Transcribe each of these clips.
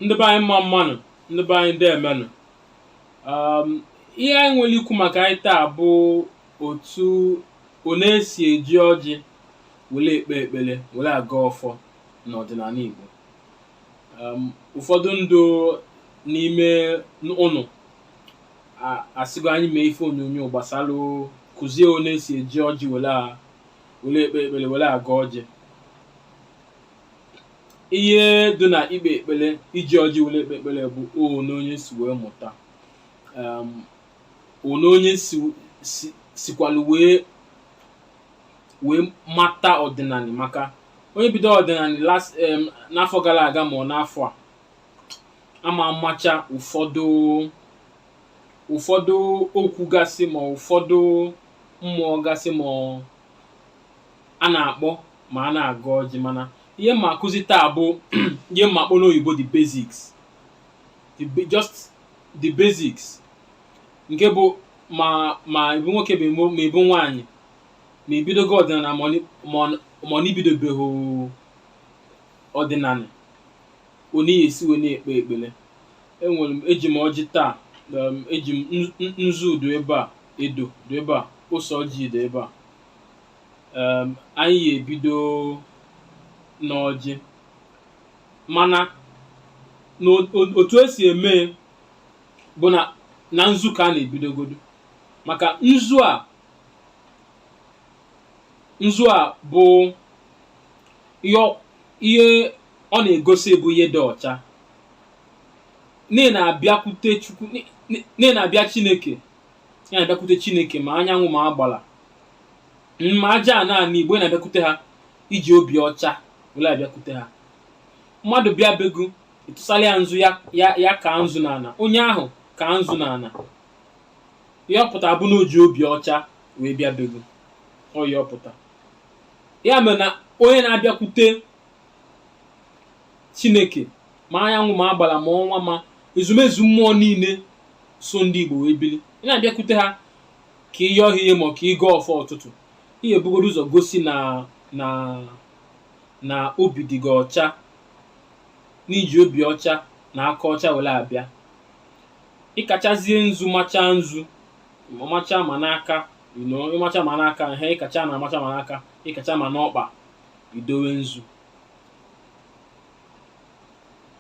ndị be anyị mma mmanụ ndị be anyị deemenụ um, ihe anyị nwere ikwu maka ya taa bụ otu one esi eji ọjị were ekpe ekpere were agọ ọfọ n'ọdịnala Igbo um, ụfọdụ ndị n'ime ụnụ asịgo anyị mee ife onyonyo gbasara kụzie one esi eji ọjị were ekpe ekpere were agọ ọjị ihe dị na ikpe ekpere iji ọjị were ekpe ekpere bụ one onye si wee mụta um, one onye si si sikwalụ wee wee mata ọdịnala maka onye bido ọdịnala last em, n'afọ gara aga ma ọ n'afọ a ama amacha ụfọdụ ụfọdụ okwu gasị ma ụfọdụ mmụọ gasị ma ọ a na-akpọ ma a na-agọ ọjị mana ihe m ga-akụzi taa bụ ihe m ga-akpọ n'oyibo the basics the ba- just the basics nke bụ ma ma ị bụ nwoke bụ imo- ma ị bụ nwaanyị ma i bidogo ọdịnala ma ọ ni- ma ọ- ma ọ n'ibidobeghị ọdịnala one ị ya-esi wee na-ekpe ekpere enwere m eji m ọjị taa um, eji m nzu- nzu dụ ebe a edo dụ ebe a ose ọjị dụ ebe a um anyị ga-ebido n'ọjị mana n'otu esi eme bụ na na nzu ka a na-ebidogodo maka nzu a nzu a bụ ihe ọ- ihe ọ na-egosi bụ ihe dị ọcha na ị na-abịakwute chukwu na ị na-abịa chineke ị na-abịakwute chineke ma anyanwụ ma agbala ma aja ana igbo na-abịakwute ha i ji obi ọcha were abịakwute ha mmadụ bịa be gụ ị tụsala ya nzu ya ya ya kaa nzu n'ala onye ahụ kaa nzu n'ala ihe ọ pụta bụ na o ji obi ọcha wee bịa be gụ ọ ihe ọ pụta ya mere na onye na-abịakwute chineke ma anyanwụ ma agbala ma ọnwa ma ezumezu mmụọ niile so ndị igbo wee bili ị na-abịakwute ha ka ị yọọ ha ihe ma ọ ka ị gọọ ọfọ ụtụtụ ị ga-ebugodo ụzọ gosi na na na obi dị gị ọcha na i ji obi ọcha na aka ọcha were abịa ị kachazie nzu machaa nzu ma machaa ma n'aka you know, ị macha ma n'aka ihe ị kacha na-amacha ma n'aka ị kacha ma n'ọkpa i dowe nzu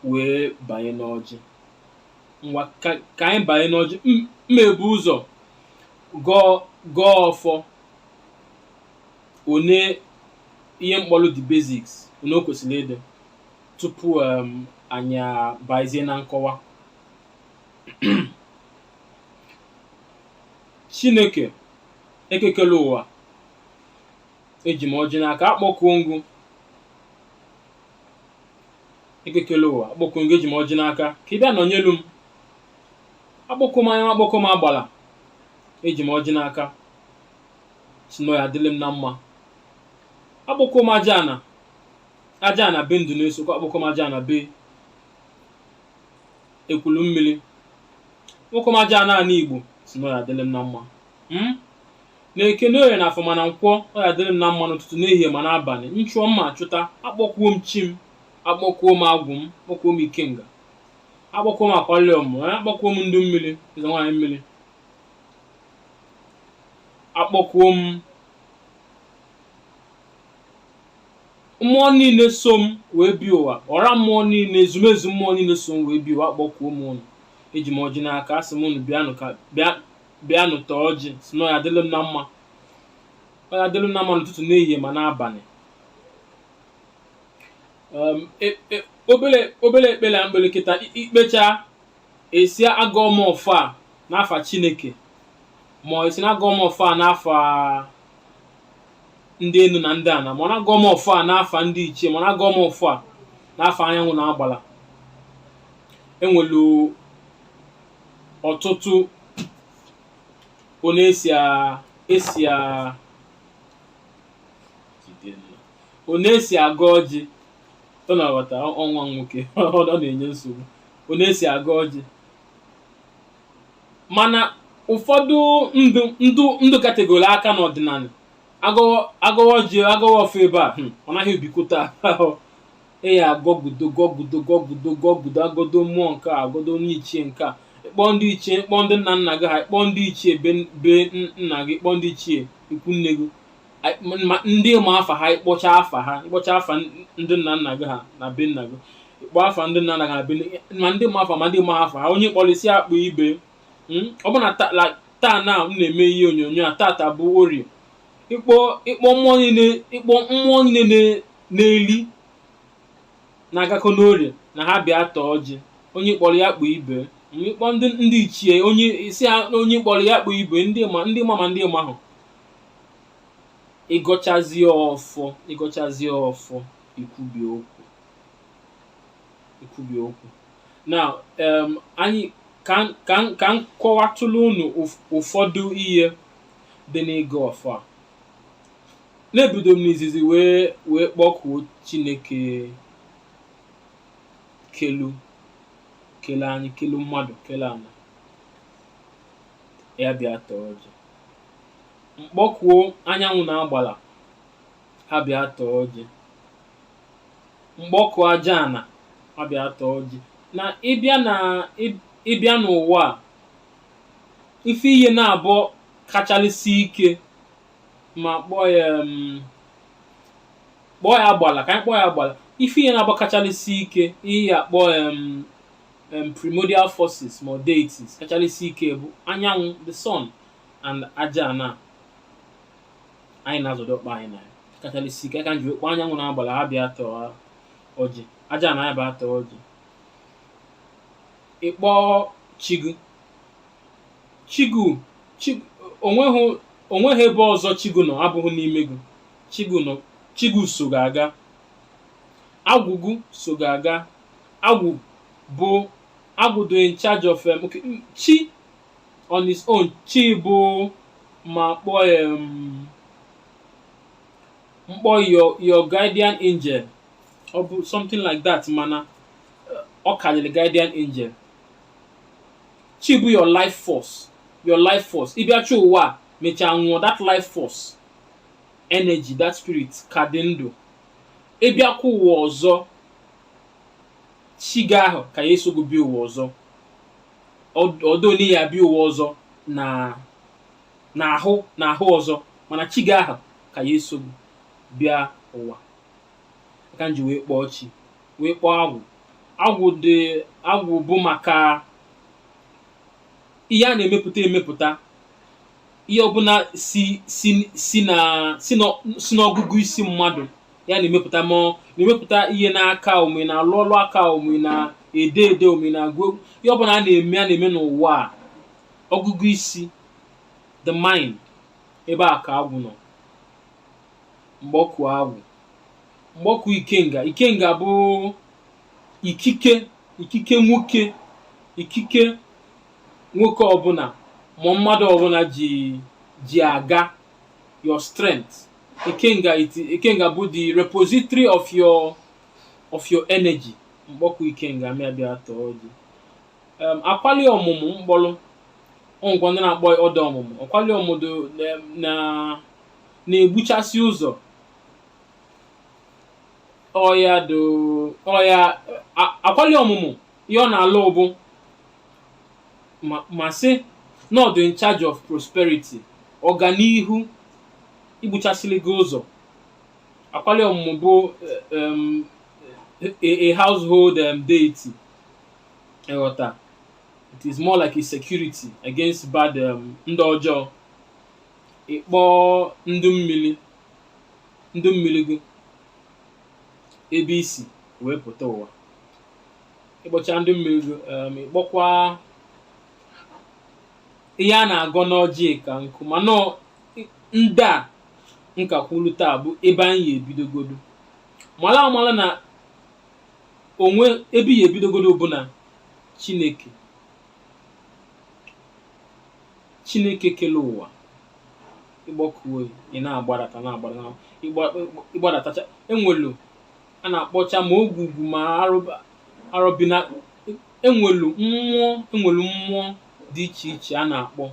wee banye n'ọjị ngwa ka ka anyị banye n'ọjị M- m ebu ụzọ gọọ gọọ ọfọ one ihe m kpọrọ the basics one o kwesịrị ịdị tupu um, anyị abazie na nkọwa chineke eke kele ụwa eji m ọjị n'aka akpọkuo m gị eke kele ụwa akpọkuo m gị eji m ọjị n'aka ka ị bịa nọnyelu m akpọkuo m anya akpọkuo m agbala eji m ọjị n'aka sị na ọ ya adịlị m na mma akpọkuo m aja ana aja ana be m dụ n'isiokwe akpọkuo m aja ana be ekwulummiri akpọkuo m aja ana ana igbo sị na ọ ya adịlị m na mma mm? na eke na oye na afọ ma na nkwọ ọ ya adịrị m na mma n'ụtụtụ n'ehihie ma n'abanị m chụọ mma achụta akpọkuo m chi m akpọkuo m agwụ m akpọkuo m ikenga akpọkuo m akwali ọmụmụ akpọkuo m ndụ mmiri eze nwaanyị mmiri akpọkuo m mmụọ niile so m wee bịa ụwa ọra mmụọ niile ezumezu mmụọ niile so m wee bịa ụwa akpọkuo m ụnụ eji m ọjị n'aka asị m ụnụ bịanụ ka bịa bịanụ taa ọjị sị na ọ ya adịlụ m na mma ọ ya adịlụ m na mma n'ụtụtụ n'ehihie ma n'abanị um, e- e- obele obele ekpere a m kpere kịta i- i kpecha ị sị agọọ m ọfọ a n'afa chineke ma ọ ị sị na agọọ m ọfọ a n'afa ndị enu na ndị ana ma ọ na agọọ m ọfọ a n'afa ndị ichie ma ọ na agọọ m ọfọ a n'afa anyanwụ na agbala enwelu ọtụtụ one e si a e si a one e si agọ ọjị ọ na-aghọta ọnwa nwoke ọ na-enye nsogbu one e si agọ ọjị mana ụfọdụ ndụ ndụ ndụ kategori aka n'ọdịnana agọwa agọwa ọjị agọwa ọfọ ebe a hmm, ọ naghị ebikọta a ya agọgudo gọgudo gọgudo gọgudo agọdo mmụọ nke a agọdo onye ichie nke a ịkpọ ndị ichie ịkpọ ndị nna nna gị ha ịkpọ ndị ichie be be n- nna gị ịkpọ ndị ichie ikwu nne gị Ai- m- ma ndị ma afa ha ịkpọcha afa ha ịkpọcha afa n- ndị nna nna gị ha na be nna gị ịkpọ afa ndị nna nna gị na be nne- ma ndị ma afa ma ndị ma afa ha onye kpọrịsị akpọ ibe Mm, ọ bụ na ta- la- taa na m na-eme ihe onyonyo a tata bụ orie ịkpọ ịkpọ mmụọ niile ịkpọ mmụọ niile na-eli na-agakọ n'orie na ha bịa taa ọjị onye kpọrọ ya kpọọ ibe ị kpọọ ndị ndị ichie onye isi ha na onye kpọrọ ya kpọọ ibe ndị ma ndị ma ma ndị ma ahụ ị gọchazie ọfọ ị gọchazie ọfọ i kwubie okwu i kwubie okwu na em, anyị ka m- ka m- ka m kọwatụlụ unu ụf- ụfọdụ ihe dị n'ịgọ ọfọ a Na ebido m n'izizi wee wee kpọkuo Chineke kelu kele anyị kelu mmadụ kele ana ya bịa taa ọjị m kpọkuo anyanwụ na agbala ha bịa taa ọjị m kpọkuo aja ana ha bịa taa ọjị na ị bịa na ị- ị bịa n'ụwa a ife ihe naabọ kachalịsị ike ma kpọọ ya mm, kpọọ ya agbala ka anyị kpọọ ya agbala ife ihe naabọ kachalịsị ike ihe ya akpọ em, em, primordial forces ma ọ deities kachalịsị ike bụ anyanwụ the sun and aja ana anyị na-azọdo ọkpa anyị na ya kachalịsị ike ka m ji kpọọ anyanwụ na agbala ha bịa taa ọjị aja ana ya bịa taa ọjị ị kpọọ chi gị chi gị o nweghị o nweghị ebe ọzọ chi gị nọ abụghị n'ime gị chi gị nọ chi gị so gị aga agwụ gị so gị aga agwụ bụ agwụ dị in charge of um, okay, mm, chi on his own chi bụ ma kpọọ ya um, m kpọọ your your guardian angel or something like that mana uh, ọ karịrị guardian angel chi bụ your life force your life force ị bịachaa ụwa a mechaa nwụọ that life force energy that spirit ka dị ndụ ị bịakwa ụwa ọzọ chi gị ahụ ka ya eso gị bịa ụwa ọzọ although na ị ya-abịa ụwa ọzọ na n'ahụ n'ahụ ọzọ mana chi gị ahụ ka ya eso gị bịa ụwa ka m ji wee kpọọ chi wee kpọọ agwụ agwụ dị agwụ bụ maka ihe a na-emepụta emepụta ihe ọbụla si si si na si na si n'ọgụgụ isi mmadụ ya na-emepụta ma ọ na-emepụta ihe n'aka ọ ma ị na-alụ ọlụ aka ọ ma ị na-ede ede ọ ma ị na-agụ egwu ihe ọbụla a na-eme a na-eme n'ụwa a ọgụgụ isi the mind ebe a ka agwụ nọ m kpọkuo agwụ m kpọkuo ikenga ikenga bụ ikike ikike nwoke ikike nwoke ọbụla ma mmadụ ọbụla ji ji aga your strength ikenga it, ikenga bụ the repository of your of your energy m kpọkuo ikenga mịa bịa taa ọjị um, akwali ọmụmụ m kpọrọ o nwekwa ndị na-akpọ ya ụdọ ọmụmụ akwali ọmụmụ na na-egbuchasị ụzọ ọya do ọya a- akwali ọmụmụ ihe ọ na-alụ bụ ma ma sị na ọ dị in charge of prosperity ọganihu igbuchasịrị gị ụzọ akwali ọmụmụ bụ eh, em, a, a household um, deity ị ghọta it is more like a security against bad um, ndị ọjọọ ị kpọọ ndị mmiri ndị mmiri gị ebe i si wee pụta ụwa ị kpọchaa ndị mmiri gị em, ị kpọkwa ihe a na-agọ n'ọjị ka nkụ mana ọ- ndị a m ka kwuru taa bụ ebe anyị ya-ebidogodo mara amara na o nwe ebe ị ya-ebidogodo bụ na chineke Chineke kere ụwa ị kpọkuo ya ị na-agbadata na-agbada na ị gba- ị gbadatacha e nwelu a na-akpọcha ma ogwugwu ma arọba arọbina e nwelu mmụọ e nwelu mmụọ dị iche iche a na-akpọ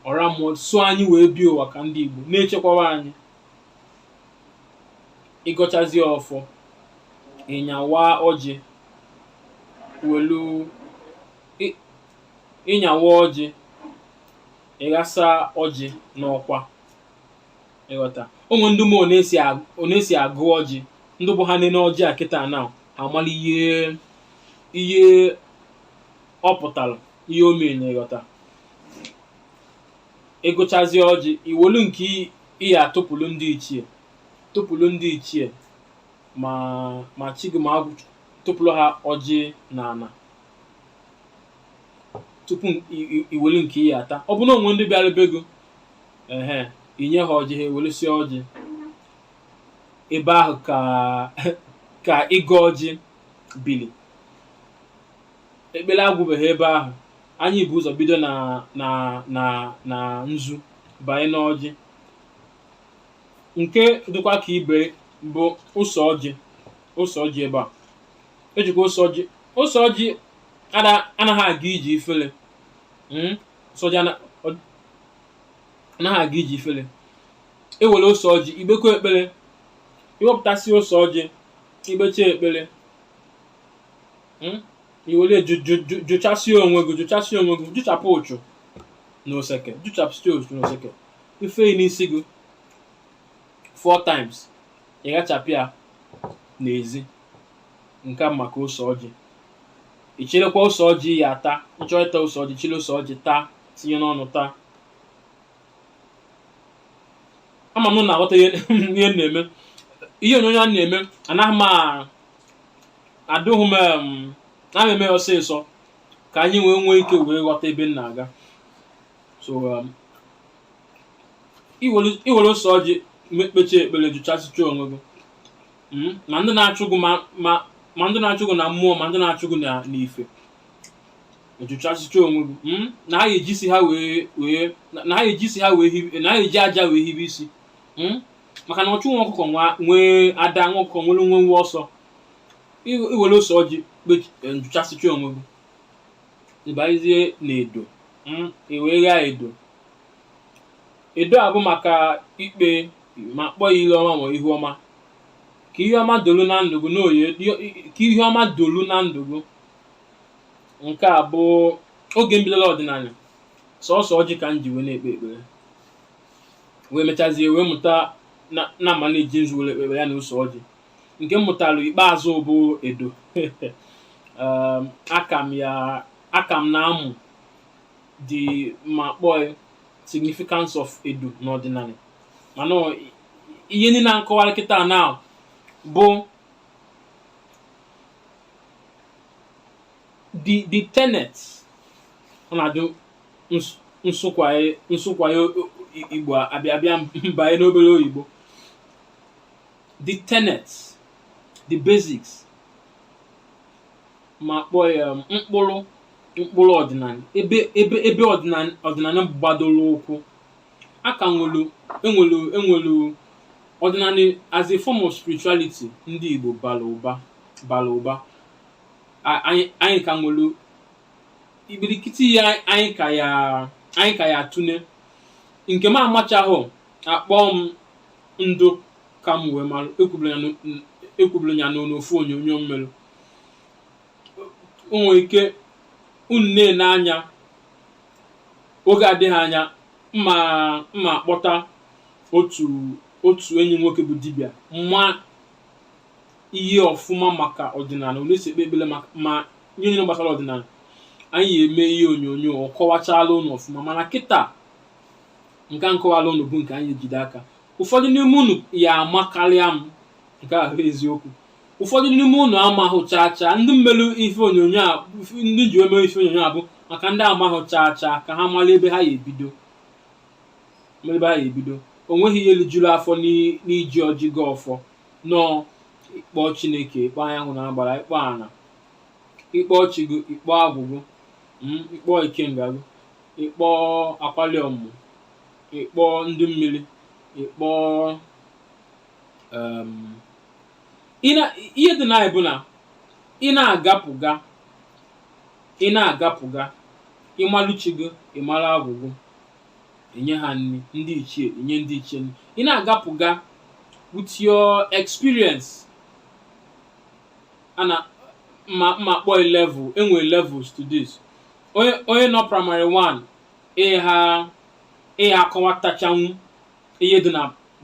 ọra mmụọ so anyị wee bịa ụwa ka ndị Igbo na-echekwaba anyị ị gọchazie ọfọ ị nyawaa ọjị welu ị nyawaa ọjị ị ghasa ọjị n'ọkwa ị ghọta o nwe ndị mmụọ na-esi ag- ọ na-esi agụ ọjị ndị bụ ha nene ọjị a kịta na ha amala ihe ihe ọ pụtara ihe o mere na ị ghọta ị gụchazie ọjị i welu nke ị- ị ya-atụpụrụ ndị ichie tụpụrụ ndị ichie ma ma chi gị ma agwụ tụpụrụ ha ọjị na ana tupu i welu nke ị ya-ata ọ bụ na o nwe ndị bịara be gị ehe i nye ha ọjị ha ewelusie ọjị ebe ahụ ka ka ịgọ ọjị bili ekpere agwụbeghị ebe ahụ anyị bu ụzọ bido na na na na nzu banye n'ọjị nke dịkwa ka ibe bụ ose ọjị ose ọjị ebe a ejikwa ose ọjị ose ọjị ada- anaghị aga ije ifele Mm, ose ọjị ana- ọ- anaghị aga ije ifele ewere ose ọjị ikpekọ ekpere iwepụtasị ose ọjị ikpecha ekpere Mm, iwere ju- ju- ju- jụchasịa onwe gị jụchasịa onwe gị jụchapụ uchu na oseke jụchapụsịa uchu na oseke ifee ya n'isi gị four times ị ghachapụ ya n'ezi nke maka ose ọjị ịchịrịkwa ose ọjị ya ata ịchọọ ịta ose ọjị chịrị ose ọjị taa tinye n'ọnụ taa ama m unu na-aghọta ihe ihe m na-eme ihe onyonyo a na-eme anaghị m a- adịghị m em, anaghị eme ya ọsịsọ ka anyị wee nwee ike wee ghọta ebe m na-aga so um, iwere iwere ose ọjị me- kpechie ekpere jụchasịcha onwe gị hmm? ma ndị na-achụ gị ma ndị na-achụ gị na mmụọ ma ndị na-achụ gị n'ife ịjụchasịcha onwe gị hmm? na ha eji isi ha wee wee na ha eji isi ha wee hibe na ha eji aja wee hibe isi hmm? maka na ọchụ nwa ọkụkọ nwe ada nwa ọkụkọ nwere nwe nwe ọsọ iwere ose ọjị jụchasịcha onwe gị ịbanyezie na edo iwee ghaa edo edo a bụ maka ikpe ma kpọ ya ile ọma ma ihu ọma ka ihe ọma dolu na ndụ gị n'oye ka ihe ọma dolu na ndụ gị nke a bụ oge m bidolu ọdịnala sọsọ ọjị ka m ji wee na-ekpe ekpere wee mechazie wee mụta na na ma na-eji nzu were ekpe ekpere ya na ose ọjị nke m mụtara ikpeazụ bụ edo um, aka m ya aka m na-amụ the ma kpọọ ya significance of edo n'ọdịnala mana ọ- ihe niile a m kọwara kịta na bụ the the tenet ọ na-adị ns- nsụkwaye nsụkwaye o- o- Igbo abịa abịa m banye n'obere oyibo the tenets the basics ma kpọọ ya um, mkpụrụ mkpụrụ ọdịnala ebe ebe ebe ọdịnala ọdịnala gbadoro ụkwụ a ka nwere enwere enwere ọdịnala as a form of spirituality ndị Igbo bara ụba bara ụba A- anyị anyị ka nwere ibirikiti ya anyị ka ya anyị ka ya atụle nke m amachahụ akpọọ m ndụ ka m wee mara ekwuburu m ya n'o- ekwuburu m ya n'ofu onyonyo m mere nwere ike unu na-ele anya oge adịghị anya m ma m ma akpọta otu otu enyi m nwoke bụ dibịa ma ihe ọfụma maka ọdịnala otu e si ekpe ekpere maka ma ihe niile gbasara ọdịnala anyị eme ihe onyonyo ọ kọwachala unu ọfụma mana kịta nke a m kọwala unu bụ nke anyị ejide aka ụfọdụ n'ime unu ya amakarịa m nke ahụ eziokwu ụfọdụ n'ime unu amahụ chaa chaa ndị m melụ ife onyonyo a ndị m ji eme ife onyonyo a bụ maka ndị amahụ chaa chaa ka ha mara ebe ha ya ebido mara ebe ha ya ebido o nweghị ihe lijuru afọ n'i- n'iji ọjị agọ ọfọ nọ ịkpọ chineke ịkpọ anyanwụ na agbara ịkpọ ana ịkpọ chi gị ịkpọ agwụ gị mm, ịkpọ ikenga gị ịkpọ akwali ọmụmụ ịkpọ ndị mmiri ịkpọ um, ihe dị na ya bụ na ị na-agapụga ị na-agapụga ị malụ chi gị ị mara agwụ gị enye ha nri ndị ichie enye ndị ichie nri ị na-agapụga with your experience ana ma ma kpọọ level e nwere levels to this onye onye nọ primary 1 ịha ịha akọwatachanwu ihe dị na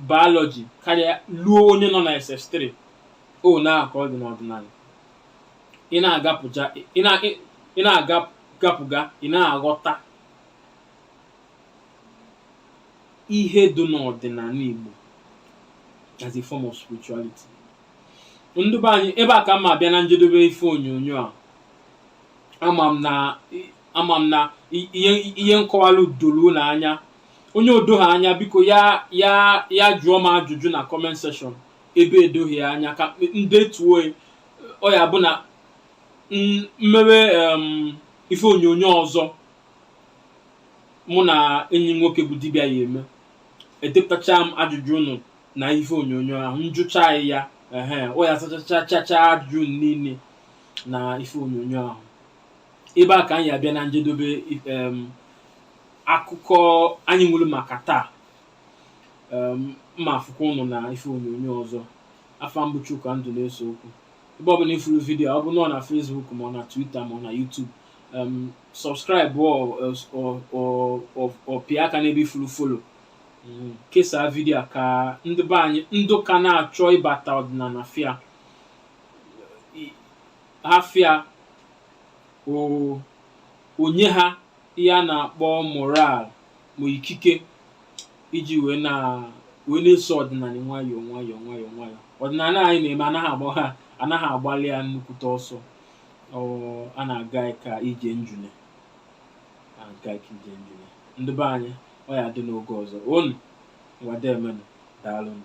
biology karịa luo onye nọ na SS3 otu a ka ọ dị n'ọdịnala ị na-agapụja ị na- ị- ị na-agapụga ị na-aghọta ihe dị n'ọdịnala Igbo as a form of spirituality ndị be anyị ebe a ka m ma abịa na njedebe ife onyonyo a ama m na ama m na i- ihe ihe m kọwalụ doro unu anya onye o doghị anya biko ya ya ya jụọ m ajụjụ na comment section ebe edoghị ya anya ka m detuo ya. ọ ya bụ na m- m mewe em, ife onyonyo ọzọ mụ na enyi m nwoke bụ dibịa ya eme edepụtacha m ajụjụ unu na ife onyonyo ahụ m jụchaa ya ehe ọ ya azachachacha ajụjụ unu niile na ife onyonyo ahụ ebe a ka anyị abịa na njedebe em, akụkọ anyị nwere maka taa Em, m ma afụkwa unu na ife onyonyo ọzọ afa m bụ Chuka Nduneseokwu ebe ọbụla ị fụrụ video ọ bụ nọ na Facebook ma ọ na Twitter ma ọ na YouTube em, subscribe ọ ọ- ọ- ọ- ọ pịa aka n'ebe ị fụrụ follow Mm, kesaa video a ka ndị be anyị ndị ka na-achọ ịbata ọdịnala fụ ya afịa o nye ha ihe a na-akpọ moral ma ikike iji wee na wee na-eso ọdịnala nwayọọ nwayọọ nwayọọ nwayọọ ọdịnala anyị na-eme anaghị agba ha anaghị agbalị ya nnukwute ọsọ ọ a na-aga ka ije njune a na-aga ka ije njune ndị be anyị ọ ya-adị n'oge ọzọ unu ngwa deemenụ daalụnụ